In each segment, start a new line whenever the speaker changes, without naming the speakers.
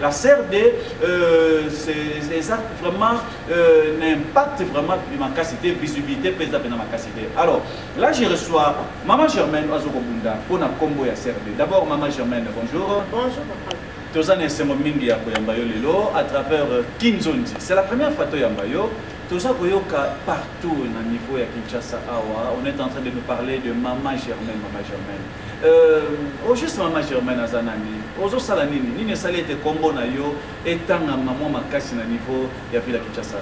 La CRD, euh, ça vraiment euh, n'impact vraiment de ma capacité, visibilité, pèse dans ma capacité. Alors, là, je reçois Maman Germaine Azokobunda pour la combo ya CRD. D'abord, Maman Germaine, bonjour. Bonjour, papa.
toza na esengo
mingi ya koyamba yo lelo à travers euh, kinzonzi c'est la première fois toyamba yo toza koyoka partout na niveau ya kinshasa awa on est en train de nous parler de mama germaine mama germaine Euh, au juste mama germaine aza nani ozosala nini nini esali ete nkombo na yo etangama mwa makasi na niveau ya vila kinshasa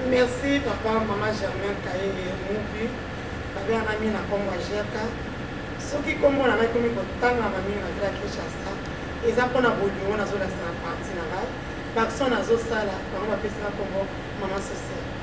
merci papa mama germaine kayenge mubi babengana mingi na nkombo ya gerka soki nkombo na ngai komi kotangama mingi na vila kinshasa eza mpo na bolingo nazolakisa na parti na ngai baaction nazosala bango bapesaka nkombo mama sociale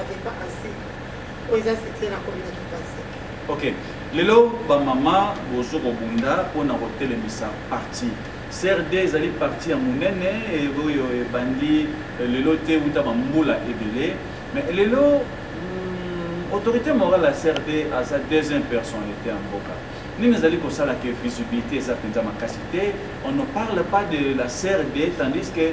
avec pas assez oyo eza site
na komi na kipasi ok lelo bamama bozo kobunda mpo na kotelemisa parti crd ezali parti ya monene oyo ebandi eh, lelo te uta bambula ebele mais lelo hmm, autorité morale ya crd aza deuxième personnalité ya mboka nini ezali kosala ke visibilité eza mpenza makasi te on ne parle pas de la crd tandis que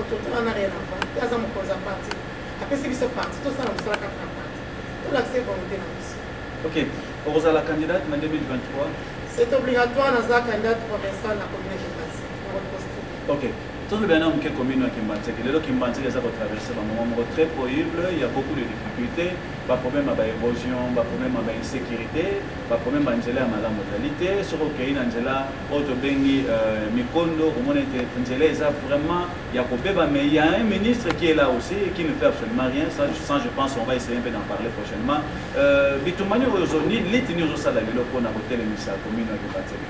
Otontona na rien avant. Ye aza mokonzi ya parti. Apesi biso parti. Tosala mosala kaka na parti. Tolakisa volonté na biso. Ok.
Okozala candidate na 2023? C'est obligatoire
naza candidate provinciale na commune de Basi. Na
reposte. Ok. tolobela na moke commune ya kimbanseke lelo kimbanseke eza kotraverse bamoma moko très prohible ya beaucoup de difficulté baproblème ya baérosion baproblème ya bainsécurité baproblème ya nzela ya malamu ezali te soki okei na nzela oyo tobengi euh, mikondo omona ete nzela eza vraiment ya kobeba mais il y a un ministre qui est là aussi et qui ne fait absolument rien ça, sans je pense on va essayer un peu d'en parler prochainement euh, bitumani oyo ozoni liti nini ozosala lelo mpo na kotelemisa commune ya kibateli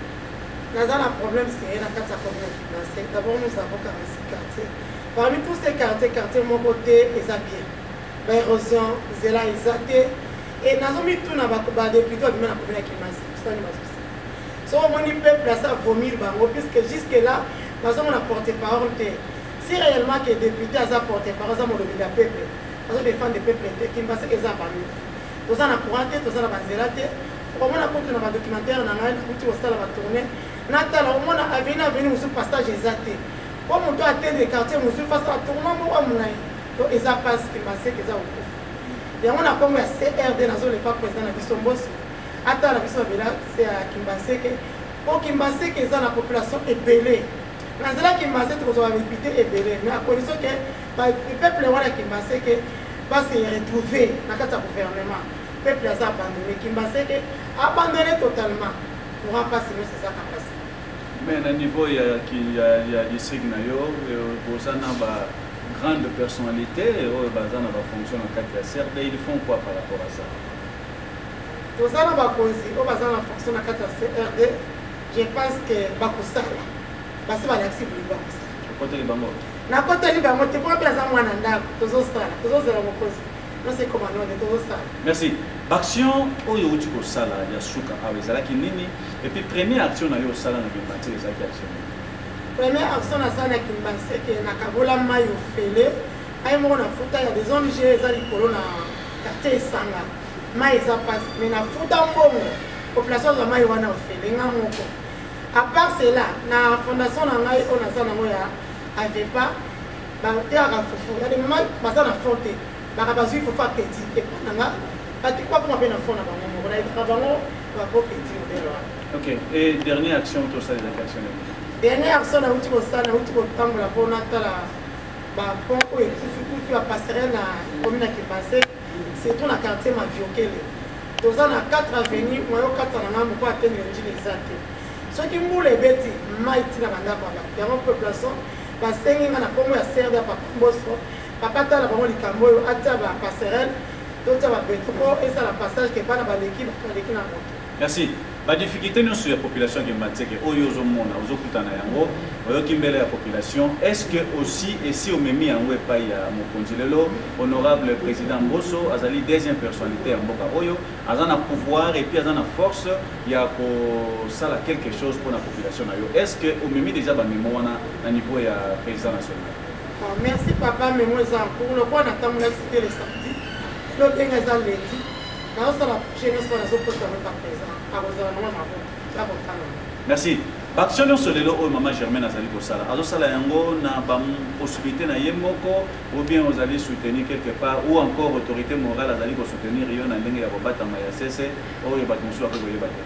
naza na
problème seye na kati ya commune ya kibase d'abord nous avons 46 quartier parmi tous ces quartier quartier moko te eza bien baérosion nzela eza te e nazomituna badepute babima na commune ya kibase sani bazosa soki omoni peuple aza vomir bango puisque jusque là nazomona porte parole te si réellement ke député aza porte parole aza molobi na peuple azo défendre peuple te kimbaseke eza bango toza na courant te toza na banzela te omona kutu na badocumentaire na ngai nakuti kosala batourne natala omona aveni aveni mosusu passage eza te mpo moto atende quartier mosusu fasala tournement moko ya molai to eza pasi kimbaseke eza kokufa yango na nkombo ya crd nazolepa président na biso mboso ata na biso babela se ya kimbanseke mpo kimbanseke eza na population ebele na nzela kimbanseke tokozwa badepute ebele mais à condition ke peuple wana kimbanseke base retrouve na kati ya gouvernement peuple aza abandonne kimbanseke abandonne totalement courant mpasi nyonso eza kapasi mais na
niveau ya, ya, ya district na yo boza na ba grande personnalité oyo baza na bafonction na kati ya crd ils font quoi par rapport à ça
Toza na bakonzi oyo baza na fonction na kati ya CRD, je pense que bakosala basi balakisi bili bakosala. Okoteli bango?
Nakoteli bango
te, mpo mpe aza mwana ndako, tozosala tozozela mokonzi nose komandone tozosala. Merci. Baaction
oyo outi kosala ya suka awa ezalaki nini? Et puis première action na yo osala na Kimbanse ezalaki action nini? Première
action nasala na Kimbanse ke nakabola mai ofele, mai moko na futa ya des ONG eza likolo na quartier Esanga. mai eza pasi me na futa mbongo population azwa mai wana ofele nga moko apart cela na fondation na ngai oyo naza nango ya avepa bateyaka fufu yade mama baza na fond te baka bazwi fufu apeti epa na nga bakoma mpe na fond na bango moko nayebaka bango
bakopeti modele wana ok et dernière action tosalelaki action dernière action
nauti kosala nauti kotambola mpo natala bapont oyo ekufikufi bapasserel na komi na kibase surtout na quartier maviokele toza na 4 avenue mwa yo katisa na ngai moko atenge njini eza te soki mbula ebeti mai ntina na ndako ya bato yango population basengi ngai na nkombo ya crd ya papa mboso papa tala bango likambo oyo atya bapasserele totya babeto mpo esala passage ke bana baleki bato baleki na moto Merci. Ba
difficultés nionso ya population ya Kimbanseke oyo ozomona ozokutana yango oyoki mbele ya population est-ce que aussi esi omemi yango epai ya mokonzi lelo honorable président Mboso azali deuxième personnalité ya mboka oyo aza na pouvoir et puis aza na force ya kosala quelque chose pour la population na yo est-ce que omemi déjà ba memo wana na niveau ya président national ah, merci
papa memo eza en cours lokola natambulaki te le samedi lobenge eza lundi nazosala projet nyonso mpo nazoposa yango par présent akozala nango maboko ya kotanga
merci baaction nyonso lelo oyo mama germaine azali kosala azosala yango na bapossibilité na ye moko ou bien ozali soutenir quelque part ou encore autorité morale azali kosoutenir yo na ndenge ya kobatama ya sese oyo bato mosusu bakoki koyeba te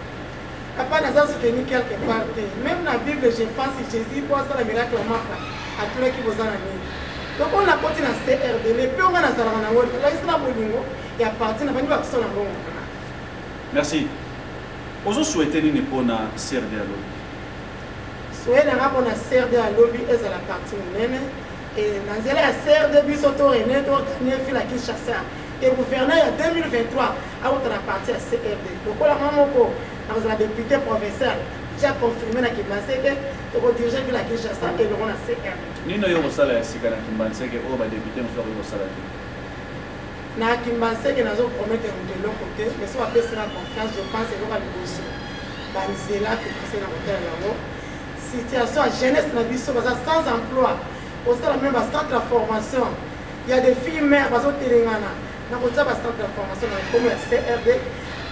papa naza soutenir quelque part
te même na bible je pense jésus mpo asala miracle maka atulaki boza na nini donc oyo nakoti na crd le mpe onga nazalaka nango nalakisi na bolingo ya parti na bandi bakisa na bongo merci
ozo souhaite nini mpo na crd ya lobi
soye na nga mpo na crd ya lobi ezala parti monene na nzela ya crd biso to rene to ganie fila kinshasa te gouverneur ya 2023 akota na parti ya crd lokola mwa moko nakozala député provincial ja confirme na kimanseke tokodirige vila kinshasa elongo na crd nini oyo kosala ya
sika na kimbanseke oyo badepute mosusu akoki kosala te
Na Kimbanseke nazo promettre moto eloko te, mais soki apesi nga confiance, je pense eloko ya liboso ba nzela tokese na kotalela yango situation ya jeunesse na biso baza sans emploi osala meme ba centre ya formation ya des filles mère bazotelengana na kotia ba centre ya formation na nkomo ya crd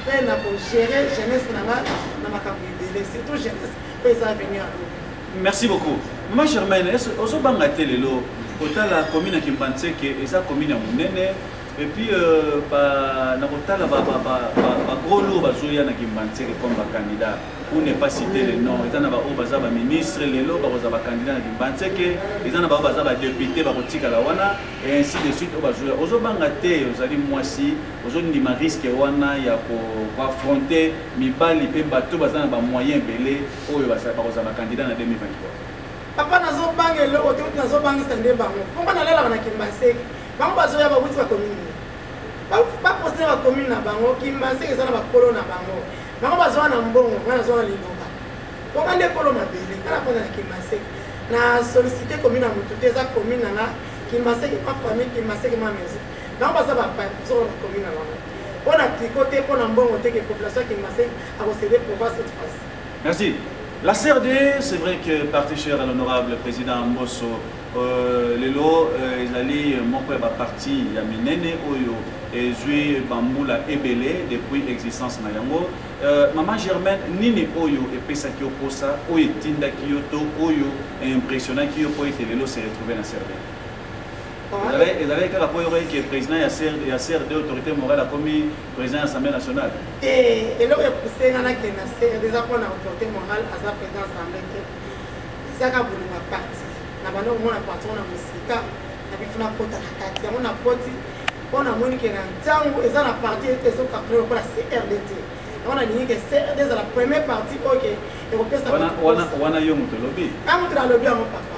mpe na kogere jeunesse na nga na makambo ebele surtout jeunesse mpe eza
avenir
ya lobi
Merci
beaucoup. Maman
Germaine,
est-ce
que ozo
banga
te lelo kotala commune ya Kimbanseke eza commune ya monene et puis euh, ba na kotala ba ba ba ba, ba gros lourds bazoya na Kimbanseke comme ba candidats pour ne pas citer les noms eza na ba oyo baza ba ministre lelo bakoza ba candidats na Kimbanseke eza na ba oyo baza ba député bakotikala wana et ainsi de suite oyo bazoya ozo banga te ozali mwasi ozo ndima risque wana ya ko affronter mibali pe bato baza na ba moyens ebele oyo bakozala ba candidat na 2023 papa nazobanga
eloko te uti nazobangisa nde bango mpongo nalalaka na kimbaseke bango bazoya bawuti bakomini baposte na bakomini na bango kimbaseke eza na bakolo na bango bango bazoya na mbongo ngai nazoya na liloba mponga nde kolo mabele ngai nakonda na kimbaseke na sollicite komini na motu te eza komini na nga kimbaseke ma famille kimbaseke ma maison bango baza bapaya kozoko na komini na bango mpo na triko te mpo na mbongo te ke population ya kimbaseke akosede province cette fois Merci.
La CRD, c'est vrai que parti cher à l'honorable président Mbosso, euh, lelo euh, ezali moko ya baparti ya minene oyo ezwi bambula ebele depuis existence na yango euh, mama germaine nini oyo epesaki yo mposa oyo etindaki yo to oyo impressionnaki yo mpo ete lelo se retrouve na cervelle ezalaki kaka mpo oyoki ke président ya crd autorité morale akomi président ya assemblée nationale te eloko
epuse nga nakende na sere eza mpo na reporte moral aza président ya assemblée te ezaka bolima parti na banda komona patron na mosika na bifu nakota na kati yango nakoti mpo namoni ke na ntango eza na parti ezokakre lokola crd te yango nalingi ke crd ezala premier parti oyo ke ekopesa wana yo
moto olobi a moto nalobi yango
papa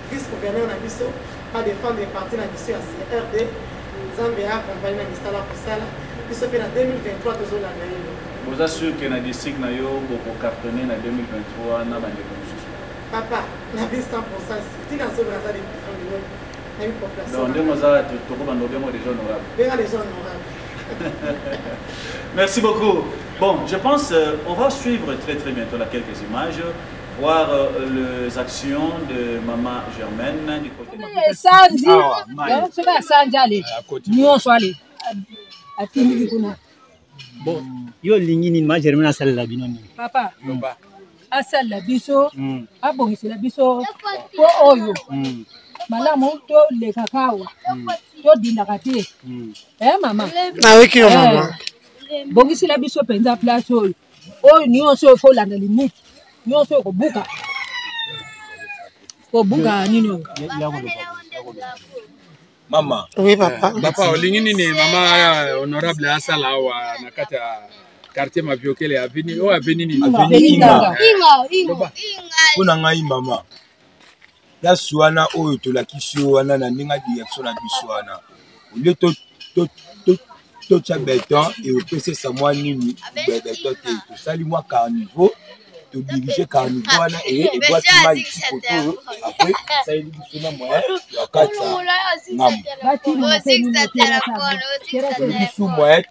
vice gouverneur na biso adefendre parti na
biso ya crd nzambe ya akompagne na misala kosala biso mpe na 2023 tozolanda ye boza sur ke na district na yo
bokocartonne na 2023 na bandeko mosusu papa na bi 100 pourcent
tina azolola aza de donc ndenge oza tokobanda obengo déjà honorable benga déjà honorable merci beaucoup bon je pense euh, on va suivre très très bientôt là quelques images voir euh, les actions de maman Germaine du côté de Sandy. Ah, c'est pas Sandy, allez. Nous, on soit allé.
À qui nous dit Bon, yo lingi ni ma Germaine asala la bino ni. Papa. Papa.
Asala la biso. Hmm. Abongisa la biso. Po oyo. Hmm. malamu tolekaka awa hmm. todindaka te e mama nayoki yo
mama bokisila
biso mpenza place oyo oyo nyonso oyo folanda limite nyonso oyo kobuka kobuka nini oyo
mama oui papa
papa olingi nini
mama honorable asala awa na kati ya quartier mabiokele aveni oyo aveni nini
mpo na ngai mama place wana oyo tolakisi yo wana na ndenge ya direction na biso wana olie totya beton eopesesa mwa nini beton te tosali mwa carniveau todirige carniveau wana eye ebwaki mai tikoto oyo apres esaleli biso na moyen ya kati ya ngambo bisu moyen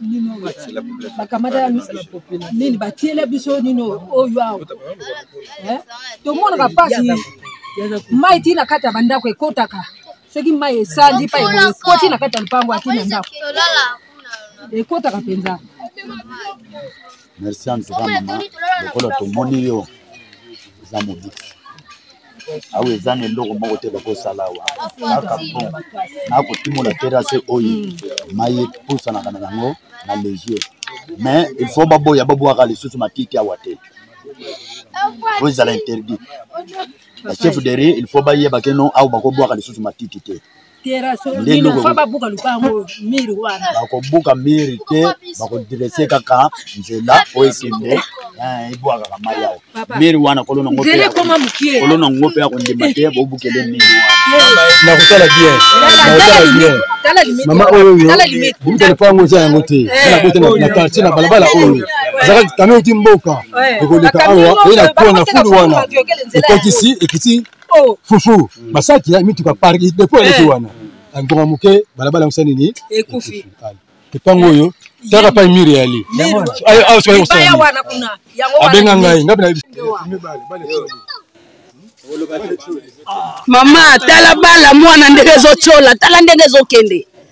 nino bakamataka nini batiela biso nino oyo awa eh? tomonaka mpasi mai ti na kati ya bandako ekotaka soki mai esandi pa ekoti na kati ya lopango ati na ndako ekotaka mpenza merci
antuka mama lokola tomoni yo eza mobiki awa eza na eloko moko te bakosala awa kaka bon nakotimola terase oyo mai epusanaka na yango na legier mais il faut baboya babwaka lisusu matiti awa te po ezala interdit bachef de ri il faut bayebake no awa bakobwaka lisusu matiti te bakobuka miri te bakodrese kaka nzela oyo ekende eh, ebwakaka mai yao miri wana kolo nango kolo nango mpe akondima te bobukele miri wana nakotala bien
nakotala bien mama oyo oyo butele mpo yango eza yango te nabote na quartier na balabala oyo ezalaki kamio ti mboka ekoleka awa oye na kona fulu wana ekotisi ekiti oh. fufu mm. masaki ya mituka park depo eh. eleki wana ngonga moke balabala yango sa nini ekufi lopango oyo taka pai mire yali abenga ngai ngapi na
mama tala bala mwana ndenge ezotyola tala ndenge ezokende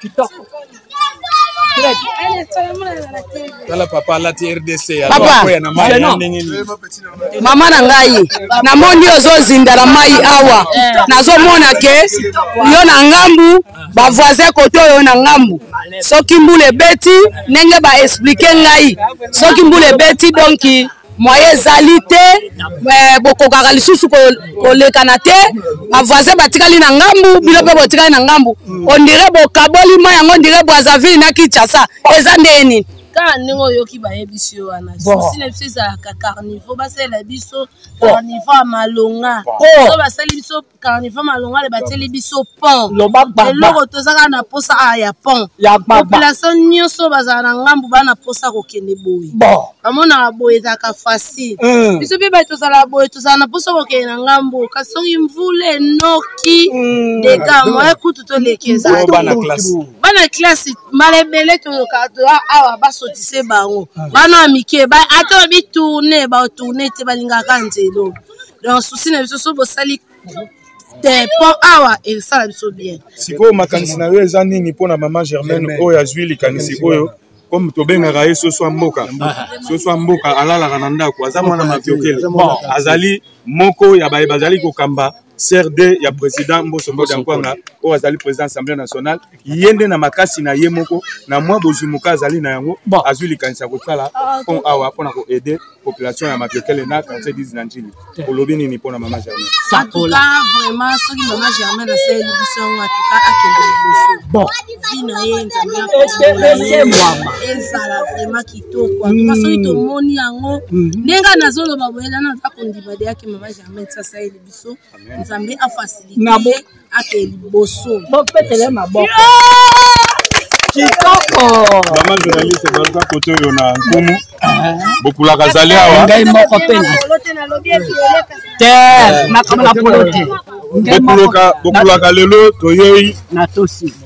kitoko
tala papa alati rdc akoya na mai na ndenge nini
mama na ngai namoni ozozinda na mai awa nazomona ke yo na ngambu bavoisin kote oyo na ngambu soki mbula ebeti ndenge baexplike ngai soki mbula ebeti donki moye ezali te eh, bokokaka lisusu kolekana te bavoisin batikali na ngambu bino mpe botikali na ngambu ondire bokaboli mai yango ondire brazaville na kinshasa eza ndenge nini kaka ndenge oyoki
bayebisi yo wana susi na biso ezalaka carnivo basalela biso carnivo ya malonga so basali biso carnival malongale batieli biso pont eloko toza kaka na posa a ya pont population nyonso bazala na ngambu baa na posa kokende boye bamonaka boye ezalaka facile mm. biso mpe bato tozala boye tozala na posa kokende na ngambu kasi soki mvula enoki mm. dega moye kutu toleki ezali bana classe mbala ebele toyokaa toya awa basotise bango ah. bana ya mike ata bitourne batourne te balingaka nzelo donc souci na biso so bosali te mpo awa esala biso bien sikoyo makanisi na
yo eza nini mpo na mama germaine oyo azwi likanisi oyo comme tobengaka ye soso ya mboka soso ya mboka alalaka na ndako aza mwana maviokele azali moko ya baye bazali kokamba crd ya président mboso mboda nkwanga oyo azali président assemblée nationale ye nde na makasi na ye moko na mwa bozwi moka azali na yango azwi likanisi ya kosala ah, pont awa mpo na koaide population ya mapiokele na quartier 10 na njili olobi nini mpo na mama germain atuka
vraiment soki mama germain asaleli biso yango atuka akende liboso bon vi na ye nzambeakoesemwama ezala vraiment kitoko atuka hmm. soki tomoni yango hmm. ndenge nazoloba boyela naza kondima deyaki mama germain sasaleli biso nzambe afasilite ake liboso bopetele maboko kitoko mama journaliste
baza kote oyo na nkumu bokulaka zali awa ngai moko mpe te
makambo na polo te bokuloka
bokulaka lelo toyei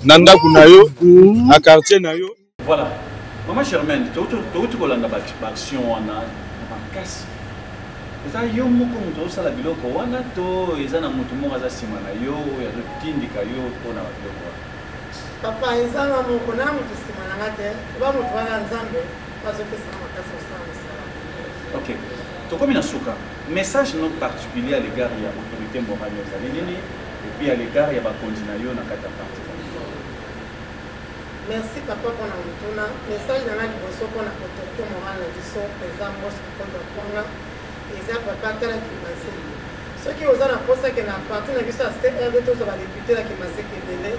na ndako na yo hmm. na quartier na yo Voilà.
Maman Germaine, touti kolanda baaction wana na makasi. Eza yo moko moto osala biloko wana to eza na moto moko aza nsima na yo oyo azotindika yo mpo na biloko wana? Papa,
eza nga moko na moto nsima na nga te. Oba moto wana Nzambe azopesa na makasi kosala mosala. Ok.
Tokomi na suka. Message no particulier à l'égard ya autorité morale ezali nini? Et puis à l'égard ya bakonzi na yo na kati ya parti.
Merci papa pona motuna. Message na nga liboso pona protecteur moral na biso president Mos Kokondo Kwanga eza papa tala Kimaseke. Soki oza na posa ke na parti na biso ya CRD tozwa ba depute na Kimaseke ebele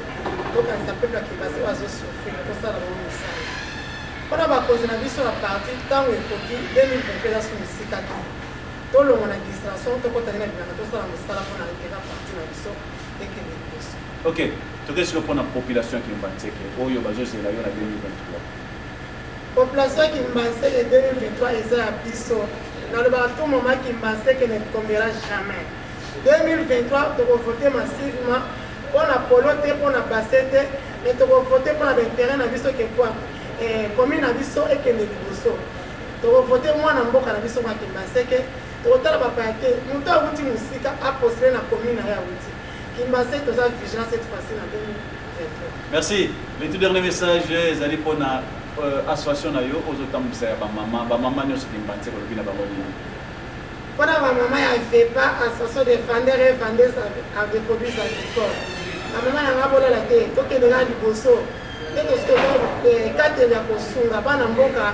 tokanisa peuple ya Kimaseke oyo azo souffrir tosala bango mosala. Pona bakonzi na biso ya parti ntango ekoki 2020 eza su mosika te. Tolongwa na distraction tokota nde na bilanga tosala mosala pona interet ya parti na biso. ekende liboso ok
toke siko mpona population ya kimbanseke oyo bazozela yo na 2023 population ya
kimbanseke 2023 eza ya biso nalobaka tout moment kimbanseke ne tombera jamais 2023 tokovote massivement mpona polo te mpona base te mais tokovote mpona bainteret na biso kekwa eh, commune na biso ekende liboso tokovote mwana mboka na biso makimbanseke Tokotala bapaya te, moto awuti mosika apostele na commune na ye awuti Kimbasai, toza vigilant cette
fois-ci na 2023. Merci. Le tout
dernier
message ezali mpo
na
euh, association na yo ozotambwisa ya bamama bamama nyonso kimbanse kolobi na bango nini mpo na
bamama ya vepa association de vendeur et vendeuse de produits agricoles bamama na nga bolala te tokendeka liboso nde tosikokateli ya kosunga bana mboka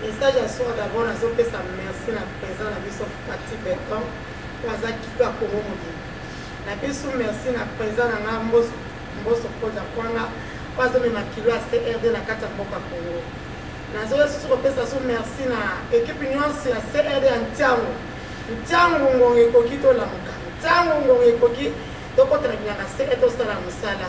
Message ya soir d'abord nazo pesa merci na présent na biso Fatih Beton oyo aza kito ya Congo mobimba. Na biso merci na présent na nga Mboso Mboso Koda Kwanga oyo azo mema kilo ya CRD na kati ya mboka Congo. Nazo lisusu kopesa so merci na ekipe nyonso ya CRD ya Ntiango. Ntiango ngonga ekoki tolamuka. Ntiango ngonga ekoki tokotela bilanga CRD tosala mosala.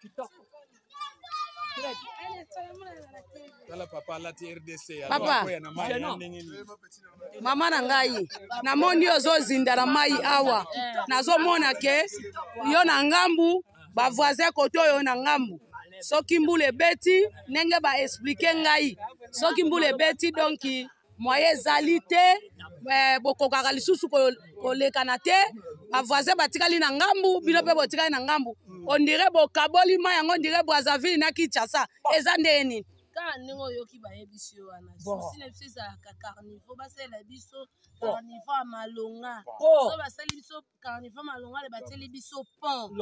kitoko
tala papa alati rdc papa mama na ngai namoni yo ozozinda na mai awa nazomona ke yo na ngambu bavoisin kote oyo na ngambu soki mbula ebeti ndenge baexplike ngai soki mbula ebeti donki moye ezali te eh, bokokaka lisusu kolekana te bavoisin batikali na ngambu bino mpe botikali na ngambu ondire bokaboli ma yango ondire brazaville na kinshasa eza ndeye nini kaka ndenge oyoki
bayebisi yo wana susi na biso ezalaka carnivo basalela biso carnivo ya malonga so basali biso carnival malongale batieli biso pont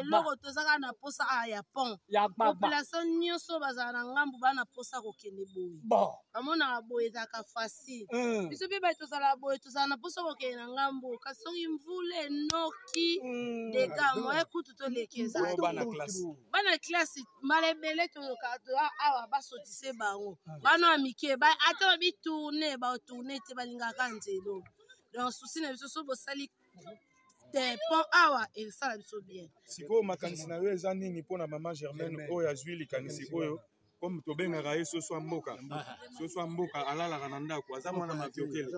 eloko tozaka na posa a ah, ya pont population nyonso bazala na ngambu baa na posa kokende boye bamonaka boye ezalaka facile mm. biso mpe baye tozala boye tozala na posa kokende na ngambu kasi soki mvula enoki mm. dega moye kutu toleki ezali bana classe mbala ebele toyoka toya awa basotise bango mm. bana ya mike ata babitourne batourne te balingaka nzelo donc souci na biso so bosali te pont awa esala biso bien sikoyo makanisi na
yo eza nini mpo na mama germaine oyo azwi likanisi oyo comme tobengaka ye soso ya mboka soso ya mboka alalaka na ndako aza mwana maviokele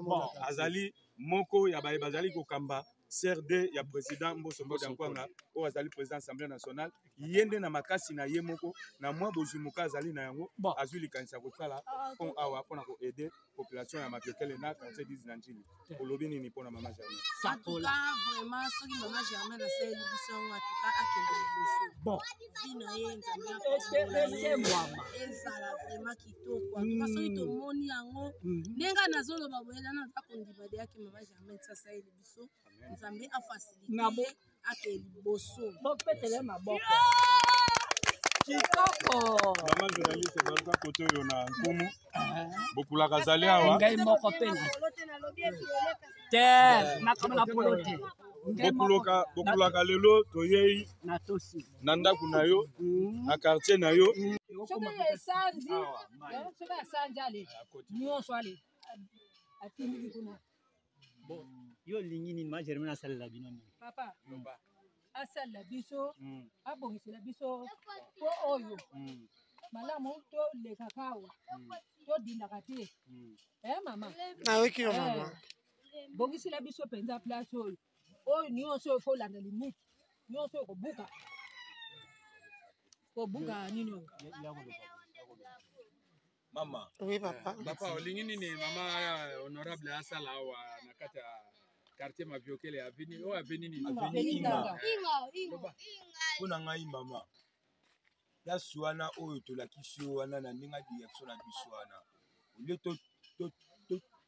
azali moko ya baye bazali kokamba crd ya président mboso mboda nkwanga oyo azali président assemblée nationale ye nde na makasi na ye moko na mwa bozwi moka azali na yango azwi likanisi ya kosala ah, pont awa mpo na koaide population ya mabiokele na quartier 10 na njili olobi nini mpo na mama germain atuka
vraiment soki mama germain asaleli biso yango atuka akende liboso bon vi na ye nzambeaesemwama ezala vraiment kitoko atuka mm. soki tomoni yango mm. ndenge nazoloba boyela naza kondima deyaki mama germain sasaleli biso nzambe afasilite ake liboso bopetele maboko kitoko
mama journaliste baza kote oyo na nkumu bokulaka zali awa ngai moko mpe
te makambo na polo te bokuloka
bokulaka lelo toyei na ndako na yo mm. na quartier na yo mm. soki
esanzi soki asanzi ale nyonso ale atindiki kuna bon
yo olingi nini ma germaine asalela bino nini papa mm.
asalela biso mm. abongisela biso po oyo mm. malamu tolekaka awa mm. todindaka te mm. e eh, mama nayoki yo eh,
mama bongisela
biso mpenza place oyo oyo nyonso oyo folanda limite nyonso oyo kobuka kobuka nini oyo
mama oui papa papa
olingi nini
mama honorable asala awa na kati ya quartier maviokele aveni oyo aveni nini mpo
na ngai mama place wana oyo tolakisi yo wana na ndenge ya direction na biso wana olie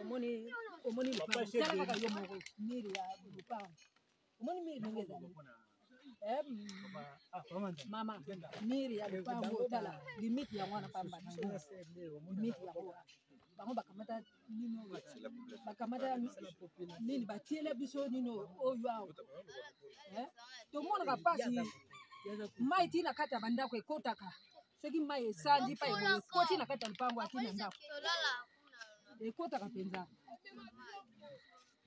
omoni omoni kaka yo moko miri ya lupango omoni miri ndenge ezali eh, mama miri ya lupango otala limite yango wana pamba limite yango wana bango bakamata nino bakamata nini batiela biso nino oyo awa eh, tomonaka mpasi mai ti na kati ya bandako ekotaka soki mai esandi pa ekoti na kati ya lupango ati na ndako ekotaka mpenza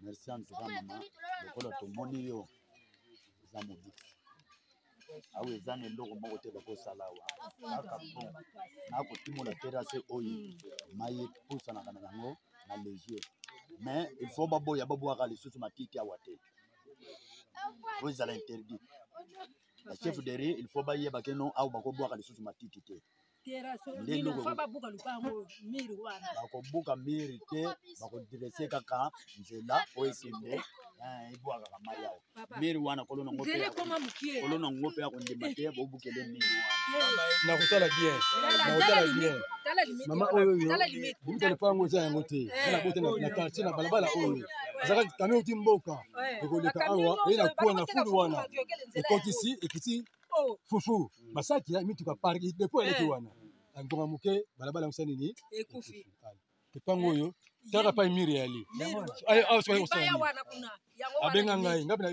merci
antuka mama lokola tomoni yo eza mobiki awa eza na eloko moko te bakosala awa kaka bon nakotimola terase oyo hmm. mai epusanaka na yango na legier mais il faut baboya babwaka lisusu matiti awa te oyo ezala interdit ba chef de riz il faut bayeba ke non awa bakobwaka lisusu matiti te bakobuka miri te bakodrese kaka nzela oyo ekende eh, ebwakaka mai awa miri wana kolo nango kolo nango mpe akondima te bobukele miri wana nakotala bien
nakotala bien mama oyo oyo bobutele mpo yango eza yango te eh. na bote na quartier na balabala oyo azaka kami oti mboka ekoleka awa eye na kuwa na fulu wana ekotisi ekiti oh. fufu masaki ya mituka park depo eleki eh. wana na ngonga moke balabala yango sa nini ekufi
lopango oyo
taka pai mire yali abenga ngai ngapi